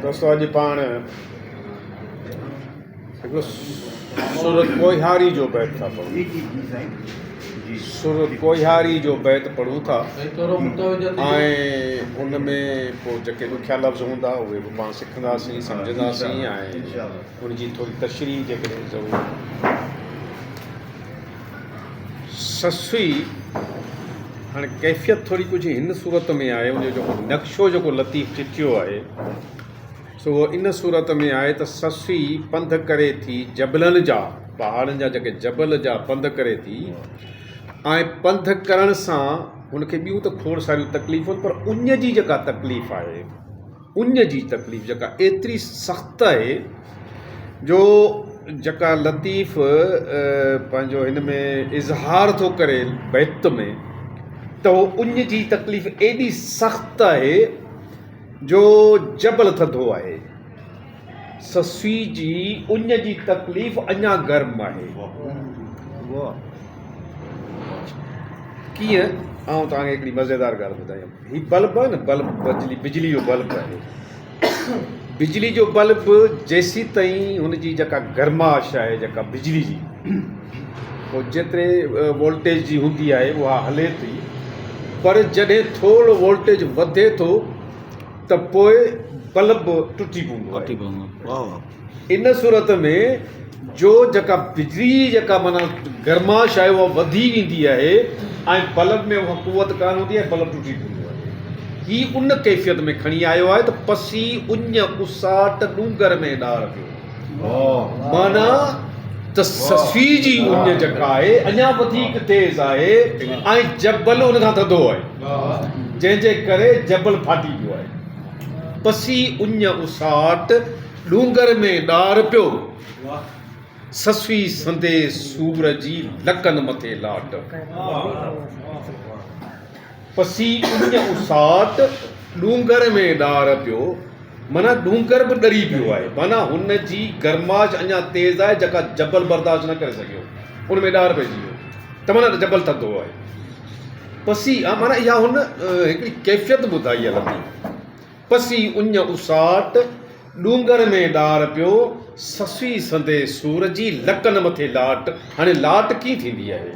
دوستو اڄ پاڻ هڪڙو سر ڪوهياري جو بيت ٿا پڙهون سر ڪوهياري جو بيت پڙهون ٿا ۽ ان ۾ پوء جيڪي ڏکيا لفظ هوندا اهي به پاڻ سکنداسين سمجھنداسين ۽ ان جي ٿوري تشريح جيڪڏهن ضرور سسئي، هاڻي ڪيفيت ٿوري ڪجهه هن صورت ۾ آهي، ان جو نقشو جيڪو لطيف چٿيو آهي، سو اهو ان صورت ۾ آهي ته سسئي پنڌ ڪري ٿي جبلن جا، پهاڙن جا جيڪي جبل جا پنڌ ڪري ٿي ۽ پنڌ ڪرڻ سان هن کي ٻيون ته کوڙ ساريون تڪليفون پر اڃ جي جيڪا تڪليف آهي، اڃ جي تڪليف جيڪا ايتري سخت آهي جو جيڪا لطيف پنهنجو هن ۾ اظهار ٿو ڪري بيت ۾ ته هو اڃ جي تڪليف ايڏي سخت آهي جو جبل ٿڌو آهي سسئي جي اڃ جي تڪليف اڃا گرم آهي. ڪيئن؟ آئون توهان کي هڪڙي مزيدار ڳالهه ٻڌايان. هي بلب آهي نه، بلب بجلي بجلي جو بلب آهي. بجلي جو بلب جيسيتائين هن جي جيڪا گرماش آهي جيڪا بجلي جي هو جيتري وولٽيج جي هوندي آهي اها هلي ٿي پر جڏهن ٿورڙو وولٽيج وڌي ٿو ته پوء بلب ٽٽي پوندو آهي ان صورت ۾ جو جيڪا بجلي جي جيڪا معنيٰ گرماش آهي اها وڌي ويندي آهي ۽ بلب ۾ اها قوت ڪانه هوندي آهي بلب ٽٽي پوندو آهي هي ان ڪيفيت ۾ کڻي آيو آهي ته پسي اڃ اساٽ ڏونگر ۾ ڏار پيو معنيٰ ته سسئي جي اڃ جڪا آهي، اڃا وڌيڪ تيز آهي ۽ جبل ان کان ٿڌو آهي، جنهن جي ڪري جبل ڦاٽي پيو آهي. پسي اڃ اساٽ ڏونگر ۾ ڏار پيو. سسئي سندي سور جي لڪن مٿي لاٽ. پسي اڃ اوساٽ ڏونگر ۾ ڏار پيو معنيٰ ڏونگر به ڏري پيو آهي معنيٰ هن جي گرماش اڃا تيز آهي جيڪا جبل برداشت نه ڪري سگهيو ان ۾ ڏار پئجي ويو ته معنيٰ جبل ٿڌو آهي پسي آ معنيٰ اها هن هڪڙي ڪيفيت ٻڌائي آهي لفظي پسي اڃ اوساٽ ڏونگر ۾ ڏار پيو سسئي سندي سور جي لڪن مٿي لاٽ هاڻي لاٽ ڪيئن ٿيندي آهي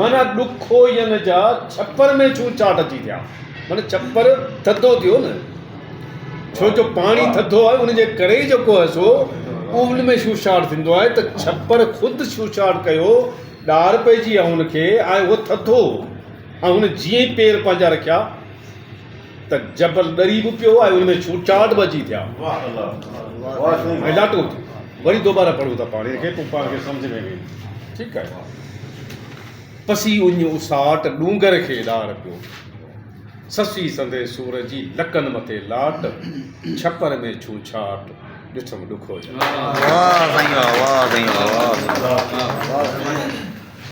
معنيٰ ڏکو ين جا ڇپر ۾ ڇون چاٽ اچي ٿيا معنيٰ ڇپر ٿڌو ٿيو نه ڇو جو پاڻي ٿڌو آهي ان جي ڪري ئي جيڪو آهي سو ان ۾ ڇوڇاٽ ٿيندو آهي ته ڇپر خود ڇوڇاٽ ڪيو ڏار پئجي آهي ان کي ۽ اهو ٿڌو هو ۽ هن جيئن ئي پير پنهنجا رکيا ته جبل ڏري به پيو ۽ ان ۾ ڇوٽ ڇاٽ به اچي ٿيا. واه الله واه سائين واه. لاٽو ٿي وري دوباره پڙهون ٿا پاڻي کي پوء پاڻ کي سمجهه ۾ ويندي ٺيڪ آهي پسي اڃ اساٽ ڏونگر کي ڏار پيو سسي سندي سور جي لڪن مٿي لاٽ ڇپر ۾ ڇو ڇاٽ ڏٺم ڏکو جا. واه سائين واه واه سائين واه واه واه واه واه سائين